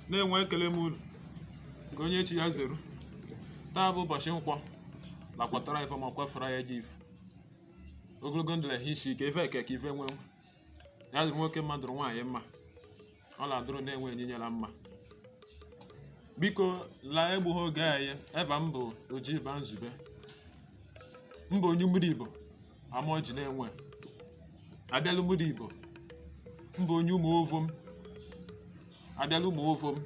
nenwe ekele m unu nke onye chi ya zere taa bụ ụbọchị nkwọ lakwatara ife ma kwafere ya ji ife ogologo ndụ la ehi isi ike ife akụ akụ ife enwe enwe ya dịrị nwoke mma dụrụ nwaanyị mma ọ na-adụrụ nenwe enyinyela mma biko la egbughị oge anyị eva m bụ ojiba nzube m bụ onye ụmụrụ ibo amọjị nenwe abịa la ụmụrụ ibo m bụ onye ụmụ ovom abịa la ụmụ ovom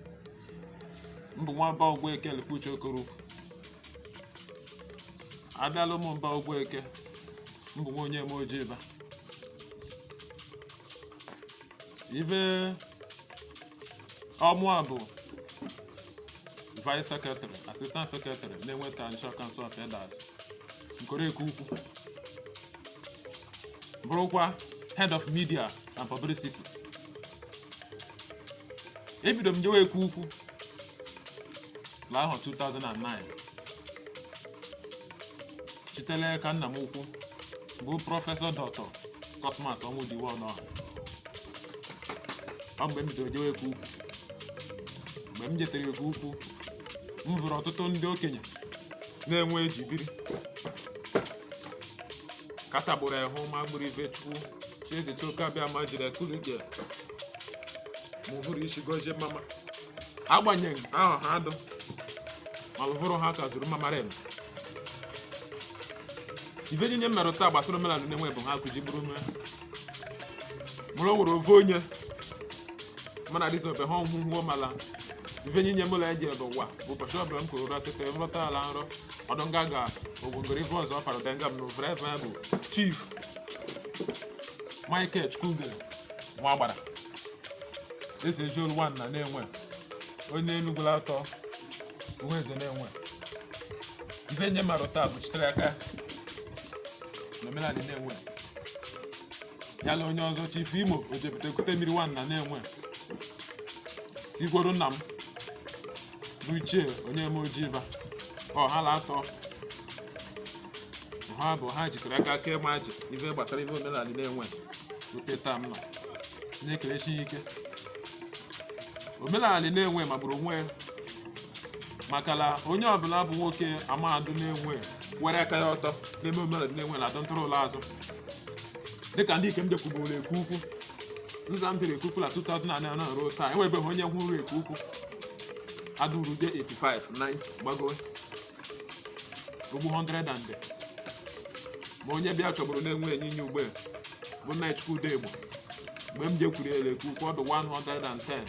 m bụ nwa mba ugwueke lekwuche okoroukwu abịa la ụmụ mba ugwueke m bụ nwa onyeme ojiba ife ọ mụa bụ vice secretary assistant secretary nenwe traditional council of elders nkoro eke ukwu bụrụkwa head of media and publicity ebido m jewe eke ukwu la ahọ 2009 shite l'eka nna m ukwu bụ prọfesọ dọktọ kọsmas ọnwụdiwe ọnọha ọ mgbe m bidoro jewe eke ukwu mgbe m jetere eke ukwu m hụrụ ọtụtụ ndị okenye nenwe ji biri katagburu ehu ma gburu ife chukwu chiedịcha oke abịama jiri ekulike mụvụrụ isi gozie mama agbanyeghị ahụ ha dụ ma lụvụrụ ha ka zuru mamara eme ife niile m maruta gbasara omenala nenwe bụ ha kụji bụrụ ume mụrụ nwere ofu onye mana dịsị ofe ha ọhụụ hụọ mala ife nye nye mụla eji ebe ụwa bụ ụbọchị ọbụla m kụrụ ụra tete nrọta ala nrọ ọdụ nga ga ogwongoro ife ọzọ ọpara ụda nga m na ofere efe bụ chief michael chukwugere nwa agbara esi eji olu nwa nna nenwe onye enugwula atọ uhueze nenwe ife nye mara taa bụ shitere aka n'omenala nenwe ya na onye ọzọ chief imo ojebute kute mmiri nwa nna nenwe tikworo nna m bụ chief onyeme ojiba ọ ha na atọ ha bụ ha jikọrọ aka aka ịma ji ife gbasara ife omenala nenwe rute taa m nọ na-ekerechi ya ike omenala nenwe magburu onwe ya maka na onye ọbụla bụ nwoke amadu nenwe were aka ya ọtọ n'ebe omenala ndị Nenwe na-adọ ntụrụ ụlọ azụ dịka ndị ikem jekwuburu Eke Ukwu nza m dịrị Eke Ukwu na 2009 na ruo taa enwebeghị onye hụrụ Eke Ukwu adụrude 85 90 gbagowe ogbu 100 and ma onye bịa chọburu na Nenwe enyi inye ugbe bụ nna chukwude igbo mgbe m jekwuru ele Eke Ukwu ọ dụ 110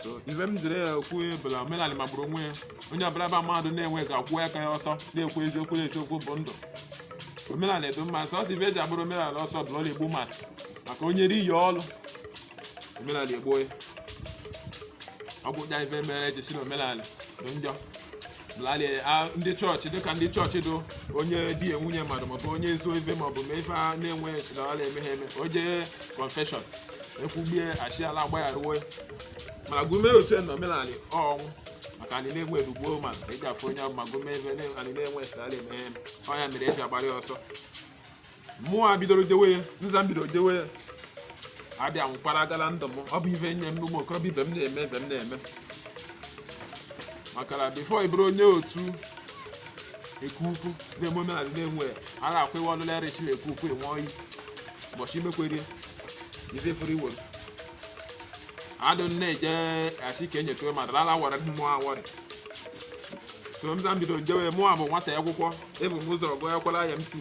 so ife m jiri ya ekwu bụ la omenala magburu onwe ya onye ọbụla bụ mmadụ Nenwe ga-akwụ aka ya ọtọ na-ekwu eziokwu na eziokwu bụ ndụ omenala dụ mma sọsọ ife eji agbara omenala ọsọ bụ la ọ la-egbu mmadụ maka onye ri ya ọlụ omenala egbuo ya ọ gwụja ife mere eji sị na omenala dị njọ blali a- ndị chọọchị dịka ndị chọọchị dụ onye dina nwunye mmadụ maọbụ onye zuo ife maọbụ ma ife a Nenwe chidawala eme ha eme o jee confession ekwugbie a sị la agbagharụ ya mana gụ mee otu na omenala ọnwụ maka anyị Nenwe edugbuo ma eji afụ onye ọbụ ma gụ mee ife anyị Nenwe chidawala eme ha eme ọ ya mere eji agbara ya ọsọ mụwa bidoro jewe ya nza m bidoro jewe ya abịa nwụkwara agala ndụ m ọ bụ ibe nye m ụmụ okorobịa ibe m na-eme ibe m na-eme maka na before ị bụrụ onye otu eke ukwu na-eme omenala Nenwe a na-akwa iwe ọlụla erichi na eke ukwu enwe oyi ụbọchị imekwerie ife furu iwere adụ nne eje achị ka enyekewe ma dara ala wara mmụọ awọrị so nza m bido njewe mụwa bụ nwata akwụkwọ ebu m ụzọ gụọ akwụkwọ la IMT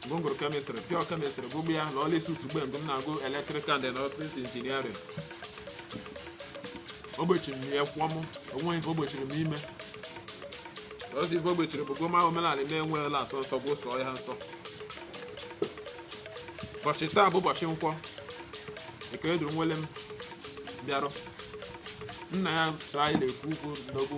m gụrụ chemistry pure chemistry gụgbu ya la ESUT ugbe mgbe m na-agụ electrical and electronic engineering o gbochiri m ya kwụọ m o nwe ife o gbochiri m ime ọzọ ife o gbochiri bụ gụ ma omenala Nenwe la-asọ nsọ gụ sọọ ya nsọ ụbọchị taa bụ ụbọchị nkwọ nke eduru nwele m bịarụ nna ya so anyị na Eke Ukwu n'ogbu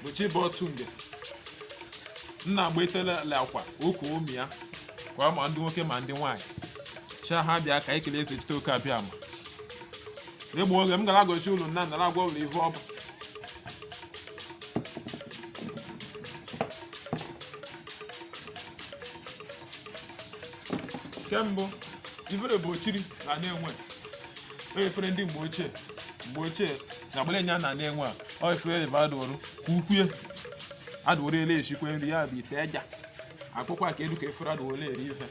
bụ chi bọọ otu nge nna gbate la akwa o kue ụmụ ya kwa ma ndị nwoke ma ndị nwaanyị cha ha bịa ka ekele Ezechitoke Abịama egbu oge m gara gosi ụlọ nna nara agwa ụlọ ihe ọ bụ nke mbụ efere bụ ochiri na Nenwe onye efere ndị mgbe ochie mgbe ochie na agbara enye a na Nenwe a ọ efere ebe adụrụ ka ukwue adụrụ ele echikwe nri ya bụ ite eja akwụkwọ a ka elu ka efere adụrụ ele eri ife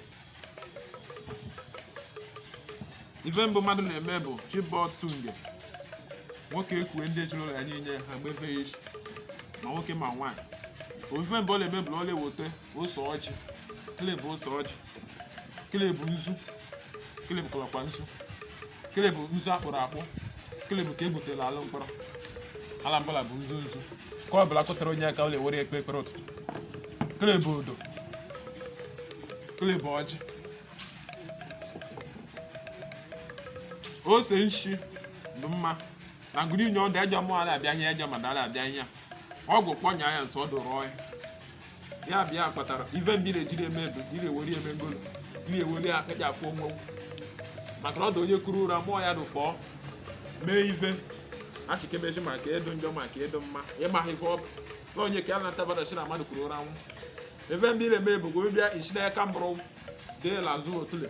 ife mbụ mmadụ na-eme bụ chi bọọ otu nge nwoke ekwue ndị ezinụlọ ya niile ha gbefe ya isi ma nwoke ma nwaanyị ọ ife mbụ ọ na-eme bụ na ọ na-eweta ose ọjị kleb ose ọjị kele bụ nzu kele bụ kọlọkwa nzu kele bụ nzu akpụrụ akpụ kele bụ ka e gwutere ala mkpọrọ ala mkpọrọ bụ nzu nzu ka ọ bụla chọtara onye aka ọ na-ewere ekpe ekpere ụtụtụ kele bụ odo kele bụ ọjị ose nshi dụ mma na ngụrụ inye ọdụ ejọ mmụọ ala abịa ihe ejọ madụ ala abịa ihe ọgwụ kpọnya ya nso ọdụ rụọ ya ya bụ ya kpatara ibe mgbe ị na-ejiri eme edo ị na-eweli eme ngolo ị na-eweli aka ji afụ onwe maka na ọ dị onye kuru ụra mụọ ya dị fọọ mee ife achịkemezi maka edo njọ maka edo mma ịmaghị ife ọ bụ na onye ka ya na-atabadachi na mmadụ kuru ụra nwụ ebe ndị na-eme bụ gobibịa isi n'aka mbụrụ dee lazụ otule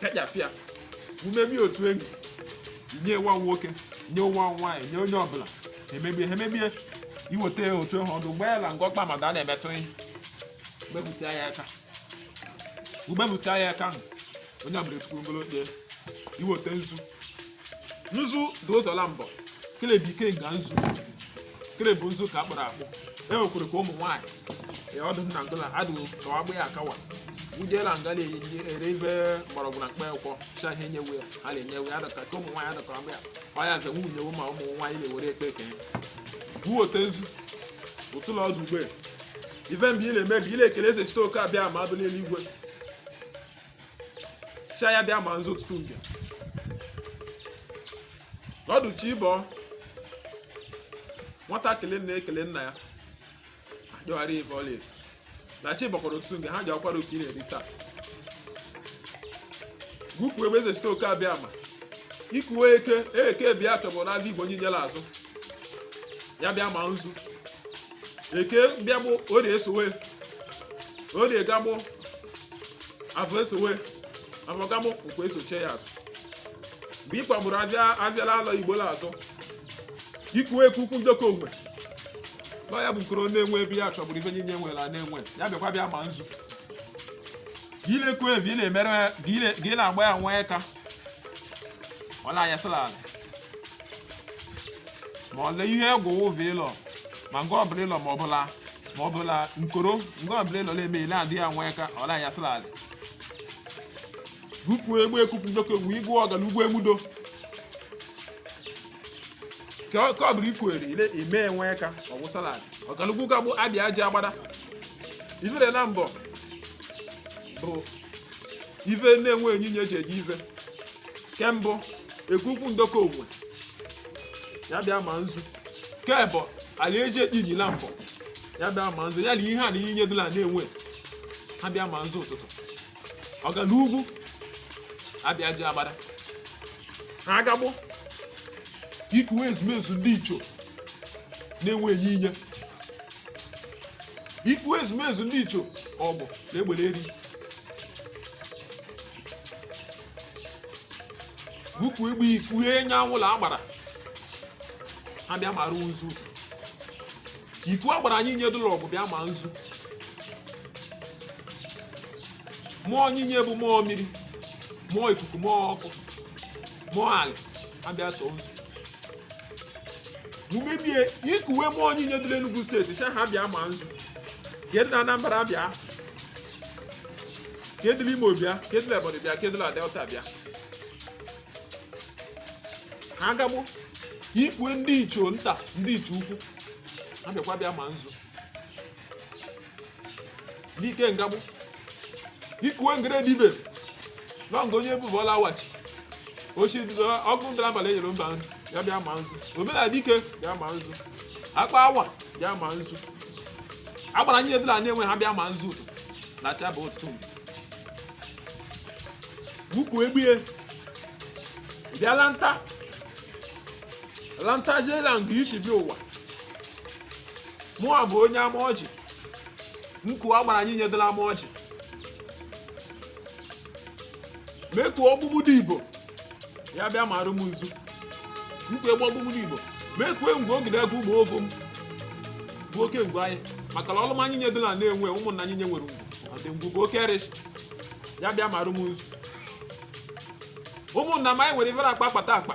pịajafịa umemi otu enyi nye nwa nwoke nye nwa nwaanyị nye onye ọbụla emebie ha emebie iweta ya otu ahụ ọdụ gbaa ya na ngọkpa mmadụ a na-emetụ ihe gbepụta ya aka i gbepụta ya aka ahụ onye ọbụla etukwuru ngolo kpee iweta nzu nzu dị ụzọ la mbọ kele bụ ikenga nzu kele bụ nzu ka akpụrụ akpụ e nwekwara ka ụmụ nwaanyị ya ọdụ nna ngola adịghị ka ọ ya akawa wujela nga na-enye ere ife mgbọrọgwụ na mkpa akwụkwọ cha ihe nyewe ya ha na-enyewe ya adọka ka ụmụ nwaanyị adọka agba ya ọ ya nke nwunye nyewe ma ụmụ nwaanyị na-ewere ekpe ekene gwuo iwete nzu ụtụlọ ọdụ ugbe ife mbụ ị na-eme bụ ị na-ekele ezechitoke abịama dụ n'eluigwe chi ya bịa ma nzu ụtụtụ mbịa ọdụ chi ịbọ nwatakịrị na-ekele nna ya ajọgharị ife ọla efu na chi bọkwara ụtụtụ mbịa ha ji akwara oke ị na-eri taa gụpụ egbe ezechitoke abịama ikuwe eke eke bịa chọbụ na igbo onye nyere azụ ya bịa ma nzu eke bịa bụ orie esowe orie gagbụ afọ esowe afọ gamụ nkwọ esoche ya azụ mgbe ị kpagburu afịa la anọ igbo na-azụ ikuwe ka ukwu njọkọ onwe nọ ya bụ nkoro na-enwe ebe ya chọgburu ife niile nwere a na-enwe ya bịakwa bịa ma nzu gị na-ekwu ife na-emere gị na-agba ya nwa aka ọ na-anyasịla ala ma ọ lee ihe egwu ụvụ ịlọ ma nke ọbụla ịlọ ma ọbụla ma ọbụla nkoro nke ọbụla ịlọ na-eme ile adị ya nwee ka ọ na-anyasịla ala gupu egbe ekupu ndoke wu igwe ọgala ugbo emudo ka ọ- ka ọ bụrụ ikwere ile ime enwe ka ọ wụsala ala ọgalugwu gagbo abịa aja agbada ifere na mbọ bụ ife Nenwe niile eji eji ife kembụ egwugwu ndokọ onwe ya bịa ma nzu kebụ ala eji ekpinyi na mbọ ya bịa ma nzu ya na ihe a niile dị la Nenwe ha bịa ma nzu ụtụtụ ọga na ugwu abịa ji agbada ha agagbụ ikuwe ezumezu ndị ichie Nenwe niile iku ezumezu ndị ichie Awgu na Egbeleli kugbe iku anyanwụ la agbara ha bịa mara nzu ụtụtụ iku agbara niile dụ la Awgu bịa ma nzu mmụọ niile bụ mmụọ mmiri mmụọ ikuku mmụọ ọkụ mmụọ ala ha bịa tọọ nzu mumebie ikuwe mmụọ niile dị n'Enugu steeti sị ha bịa ma nzu ke dụ na Anambra bịa ke dụ Imo bịa ke dụ Ebonyi bịa ke dụ na Delta bịa ha gagbo ikuwe ndị ichie nta ndị ichie ukwu ha bịakwa bịa ma nzu n'ike ngabụ ikuwe ngere dibe na nga onye bụbọla wachi ochi ọkụ ndara abalị enyere mba nri ya bịa ma nzu omele dike bịa ma nzu akpa awa bịa ma nzu agbara niile dị la Nenwe ha bịa ma nzu ụtụ na acha bụ ụtụtụ mgbe ukwu egbie bịa lanta lanta jela nga isi bịa ụwa mụ bụ onye Amoji m kuo agbara niile dị la Amoji m ekuo ọgbụgbụ dị igbo ya bịa marụ m nzu m kugbe ọgbụgbụ dị igbo m ekuo ngwu ogide agụ ụmụ ovu m bụ oke ngwu anyị maka na ọlụm niile dị la Nenwe ụmụnna niile nwere ngwu ọdị ngwu bụ oke arụshị ya bịa marụ m nzu ụmụnna m anyị nwere ifere akpa akpata akpa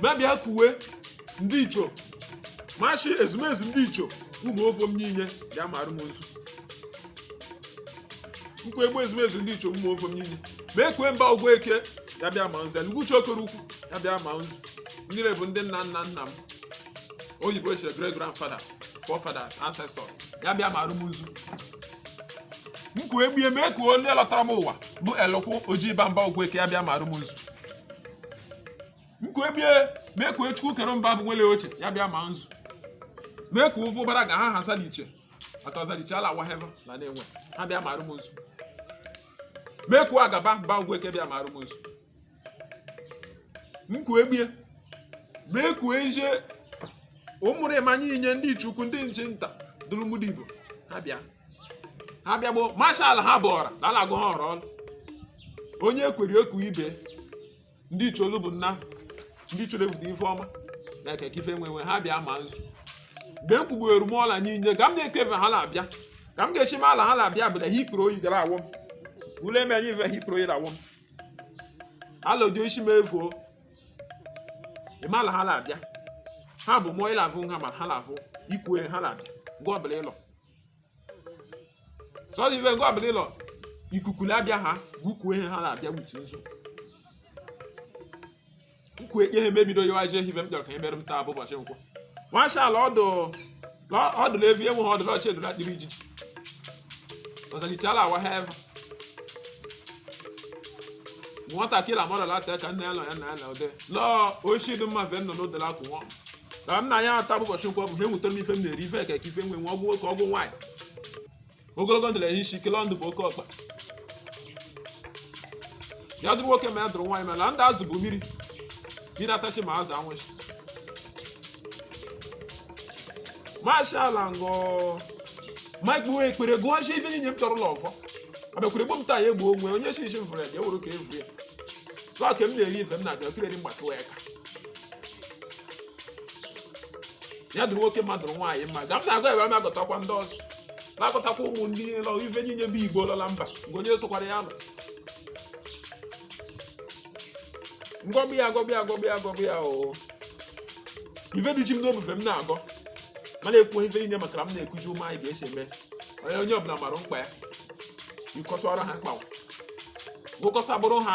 m abịa kuwe ndị ichie machi ezumezu ndị ichie ụmụ ofo m niile bịa marụ m nzu m kugbe ezumezu ndị ichie ụmụ ofo m niile m ekuo mba ụgwọ eke ya bịa ma nzu eluguchi okoro ukwu ya bịa ma nzu mmiri bụ ndị nna nna nna m oyibo chere great grandfather forefathers ancestors ya bịa marụ m nzu m kugbie m ekuo ndị lọtara m ụwa bụ elụkwụ ojii bamba ụgwọ eke ya bịa marụ m nzu nke ebie mee ka chukwu kere mba bụ nwele oche ya bịa ma nzu mee ka ụfụ bara ga ha ha zaliche aka zaliche ala wa heva na na-enwe ha bịa maarụ m nzu mee ka agaba mba ugwu eke bịa maarụ m nzu nkwu ebie mee ka eje ụmụrụ ịmanye inye ndị ichie ukwu ndị ichie nta dụrụmụdị igbo ha bịa ha bịa gboo mashal ha bụ ọra na a la-agụ ha ọrụ ọrụ onye kwere eku ibe ndị icholu bụ nna ndị icholu ebute ife ọma na ekeke ife nwe nwe ha bịa ma nzu mgbe m kwugbuere m ọla niile ka m na-eke efe ha na-abịa ka m ga-echi m ala ha na-abịa bụ na ha ikpuru oyi gara awọ m ule eme anyị ife ha ikpuru oyi na-awọ m ala odio isi m efuo ịma ala ha na-abịa ha bụ mụọ ịlavụ nha ma ha na-avụ ikwu ha na-abịa gwa ọbụla ịlọ sọrọ ibe ngwa abụla ịlọ ikuku na-abịa ha gwukwuo ihe ha na-abịa wutu nzu nkwu ekpe ha mebido yawa je hibe m jọrọ ka emere m taa bụ ụbọchị nkwọ mashala ọdụ lọ- ọdụ na evi enwe ha ọdụ na ọ chi edula dịrị ijiji ọzalichala awa ha ebe nwatakịrị amarala ata ka nna ya nọ ya na ya na ode lọọ oshi dị mma ve nọ n'odela akwụnwọ na nna ya taa bụ ụbọchị nkwọ bụ ha enweta m ife m na-eri ife eke ka ife nwe nwe ọgwụ nwoke ọgwụ nwaanyị ogologo ndụ na ehụ isi ike le ndụ bụ oke ọkpa ya dụrụ nwoke ma ya dụrụ nwaanyị ma na ndụ azụ bụ mmiri mmiri atachi ma azụ anwụchi mashala ngọ mike bụ ekpere gụghachi ife niile m tọrọ ụlọ ọfọ abịakwere gbuo m taa ya egbuo onwe onye si isi m fụrụ ya ka e were ka e vuru ya tụọ ka m na-eri ife m na-abịa kireri mgbatịwa ya ka ya dụrụ nwoke ma dụrụ nwaanyị mma ga m na-agọ ebe m agọtakwa ndị ọzọ na-agọtakwa ụmụ ndị niile ife niile bụ igbo lọ la mba nke onye sokwara ya nọ ngọbụ ya agọbụ ya agọbụ ya agọbụ ya oo ife dị ji m n'obi bụ ife m na-agọ ma na-ekwu ife niile maka na m na-ekuji ụmụ anyị ga-esi eme onye onye ọbụla mara mkpa ya ịkọsara ha mkpa gụkọsa bụrụ ha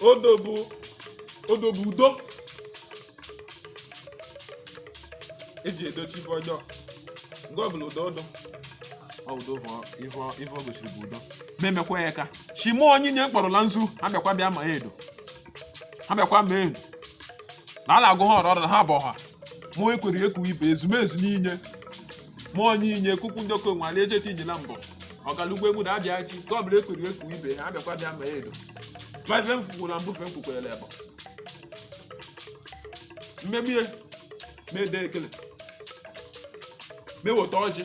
odo bụ odo bụ udo eji edochi ife ọjọọ nke ọ bụla udo odo ọ udo bụ ife ọ- ife ọ gosiri bụ udo na-emekwa ya ka shimo onyinye m kpọrọ la nzu ha bịakwa bịa ma ya edo ha bịakwa ma edo na a na-agụ ha ọrụ ọrụ na ha bụ ọha mụọ ekwere ekwu ibe ezumezu n'inye ma onye inye kuku ndị okenwe ala ejeta iji na mbọ ọkalugbo egwu na abịa chi ka ọ bụla ekuru eku ibe ha abịakwa bịa ma edo ma ife mfukwu na mbufe mkwukwere ebe mmemie mede ekele m eweta ọjị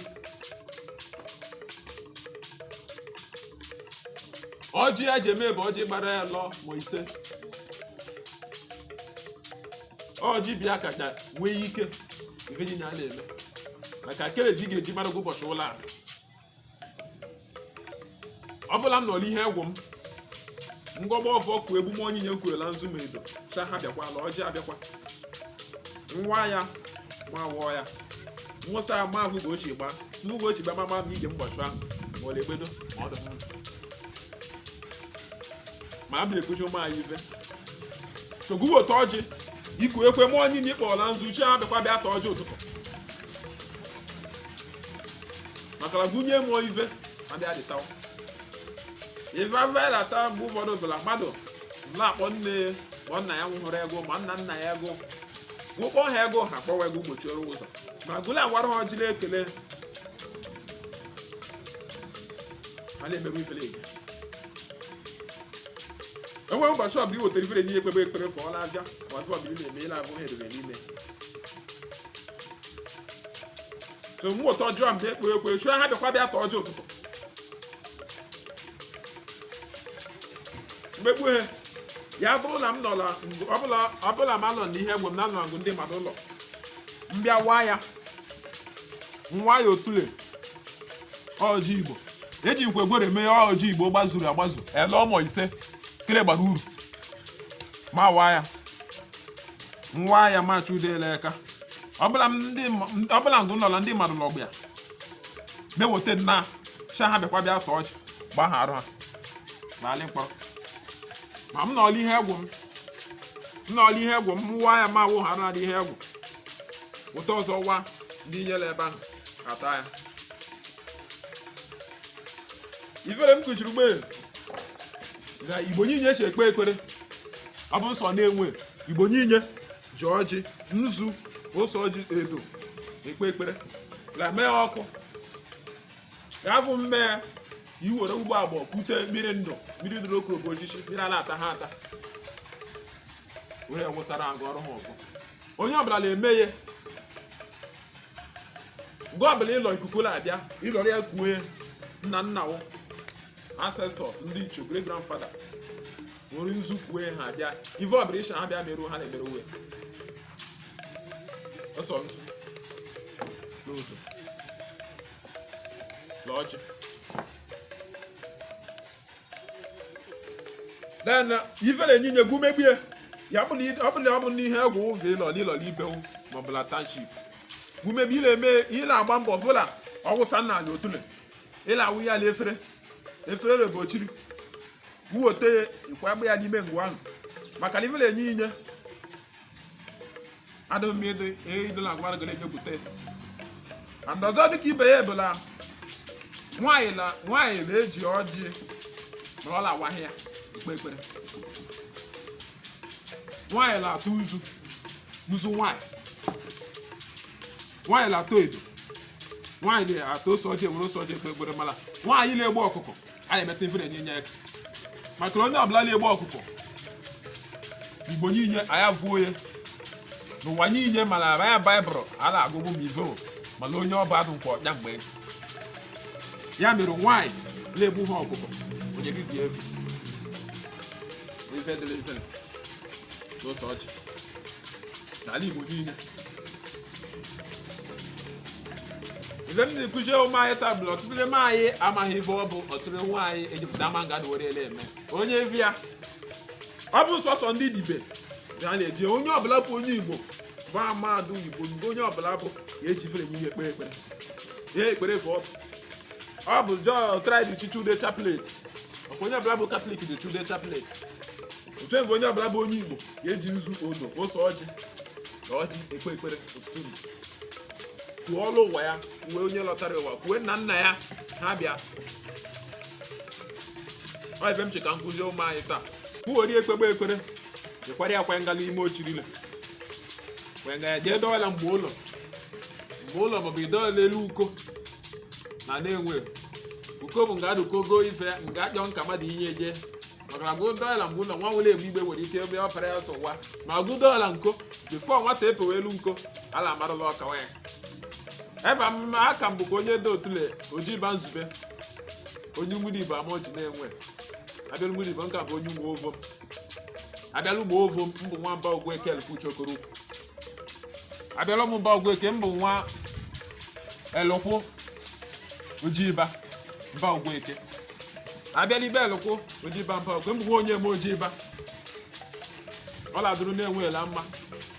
ọjị a ji eme bụ ọjị gbara anọ ma ise ọjị bịa ka ka nwee ike ife niile a na-eme maka kere ji ga-eji mara gị ụbọchị ụlọ ala ọ bụla m nọrọ ihe egwu m ngọgba ọfọ kụ egwu m onye nye nkwurela nzu ma edo sị ha bịakwa la ọjị abịakwa m waa ya m awaa ya m wụsa ya ma vụgo ochie gbaa vụgo ochie gbaa ma ma m ije mbọchị ahụ ma ọ na-egbedo ma ọ dị mma ma a bịa ekwuchi ụmụ anyị ife sogbuwe ụtọ ọjị iku ekwe mụọ niile ịkpọọla nzu sị ha bịakwa bịa taa ọjị ụtụtụ makara gụnye mụọ ife ma bịa dị tawa ife avela taa mgbe ụfọdụ bụla mmadụ na-akpọ nne ya ma nna ya nwụhụrụ ego ma nna nna ya ego gwụkpọ ha ego ha kpọwa ego gbochiere ụzọ ma gụla agwara ha ọjị na-ekele ha na-emerụ ifere enyi enweghị ụbọchị ọbụla iwetara ifere enyi ekpebe ekpere fụọ n'abịa ma ife ọbụla ị na-eme ị na-abụ ha edere n'ime so mụ ụtọ ọjọọ mgbe ekpo ekwe sị ha bịakwa bịa taa ọjị ụtụtụ mmegbu ha ya bụrụ na m nọla ọbụla ọbụla ma nọ n'ihe egwu m na nọ ngụ ndị mmadụ ụlọ m bịa waa ya m waa ya otule ọjị igbo ejikwa gworo mee ọjị igbo gbazuru agbazu anọ ma ise kele gbara uru m awaa ya m waa ya ma chudele aka ọbụla ngụ nọla ndị mmadụ lọgba ya m eweta m sị ha bịakwa bịa taa ọjị gbaa ha arụ ha n'ala mkpọrọ ma m nọọ la ihe egwu m m nọọ la ihe egwu m waa ya ma awụ ha narị ihe egwu wete ọzọ waa ndị niile ebe ahụ ata ya ife m kwuchiri mgbe na igbo niile si ekpe ekpere ọ bụ nsọ na-enwe igbo niile ji ọjị nzu ose ọjị edo ekpe ekpere la mee ọkụ afụ mme i were ụgbọ agbọ kute mmiri ndụ mmiri ndụ n'okorobo osisi mmiri a na-ata ha ata were wụsara agụ ọrụ ha ọzọ onye ọbụla na-eme ya mgbe ọbụla ịlọ ikuku na-abịa ịlọrọ ya kuwe nna nna wụ ancestors ndị ichie great grandfather nwere nzu kuwe ha abịa ive ọbụla ị sị ha bịa meruo ha na-emere uwe ose nzu na odo na ọjị then ife na-enye inye gị umegbu ya ya bụ na ị- ọ bụla ọ bụ na ihe egwu ụzọ ị lọ n'ụlọ n'ibewu maọbụ na township umegbu ị na-eme ị na-agba mbọ fụla ọwụsa nna anyị otule ị na-awụ ya na efere efere rebochiri i weta ya ị kwagba ya n'ime nga ahụ maka na ife na-enye inye adụmide eidola agwara ga na-ejepụta and ọzọ dịka ibe ya ebụla nwaanyị na nwaanyị na-eji ọjị mana ọ na-awaghị ya ekpe ekpere nwaanyị na-atụ nzu nzu nwaanyị nwaanyị na-atụ edo nwaanyị na-atụ ose ọjị ewere ose ọjị ekpe ekpere mana nwaanyị na-egbu ọkụkọ a na-emeta ife na-enye nye aka maka na onye ọbụla na-egbu ọkụkọ igbo niile anyị abụọ onye n'ụwa niile mana ara ya baịbụl a na-agụ agụ ma ibo mana onye ọba adụ nke ọja mgbe ya mere nwaanyị na-egbu ha ọkụkọ onye gị dị efu ife dịrị ife n'ose ọjị n'ala Igbo niile ife m na-ekuzi ụmụ anyị taa bụ na ọtụtụ n'ime anyị amaghị ife ọ bụ ọtụtụ nwa anyị ejupụta ama nga were ele eme onye vi ya ọ bụ sọsọ ndị dibe ga na-eji onye ọbụla bụ onye Igbo bụ amadụ Igbo mgbe onye ọbụla bụ ya eji fere enye ya ekpere ekpere ya ekpere bụ ọ bụ ọ bụ just like chichude chaplet ọkwa onye ọbụla bụ katọlik dị chude chaplet otu egwu onye ọbụla bụ onye igbo ga-eji nzu odo ose ọjị na ọjị ekpe ekpere ụtụtụ mgbe kuo ọlọ ụwa ya kuo onye lọtara ụwa kuo nna nna ya ha bịa ọ ive m chọ ka m kụzie ụmụ anyị taa kwuori ekpegbe ekpere jekwara ya kwanye ngala ime ochirile kwanye ngala jee dọọla mgbe ụlọ mgbe ụlọ maọbụ i dọọ n'elu uko na na-enwe uko bụ nga adụko goo ife nga ajọ nka mmadụ inye jee maka na agụdo ọla mgbe ụlọ nwa nwere egbe igbe nwere ike ebe ọ pere ya sọ wa ma agụdo ọla nko before nwata epewe elu nko ala amarụla ọkawa ya ebe a ka m bụkwa onye dị otule oji ba nzube onye nwere ibe ama oji na-enwe abịalụ nwere ibe nka bụ onye ụmụ ovom abịalụ ụmụ ovom m bụ nwamba ogbu ekele kwuchi okoro ukwu abịala m be ọgwụ eke mbụ nwa elụkwụ ojiba be ọgwụ eke abịala be elụkwụ ojiba mba ọgwụ mbụ nwa onye eme ojiba ọ ladụrụ na-enweela mma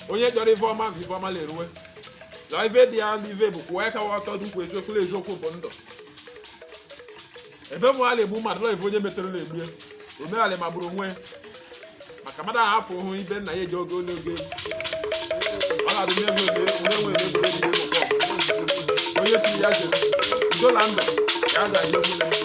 onye chọrọ ive ọma bụ ive ọma na-eruwe na ive dị ya n'ive bụ kwụwa aka ọtọ dị ukwu eziokwu na eziokwu bụ ndụ ebe mụ ala egbu mmadụ la ive onye metere na-egbu e omerala magburu onwe ya. maka mmadụ ahụ afọ hụ ibe nna ya eji oge onye oge ọ na-adị n'ebe oge onye nwere ebe oge ebe oge ọbụla. onye tiri ya jere dola ndụ ka a ga-eji oge onye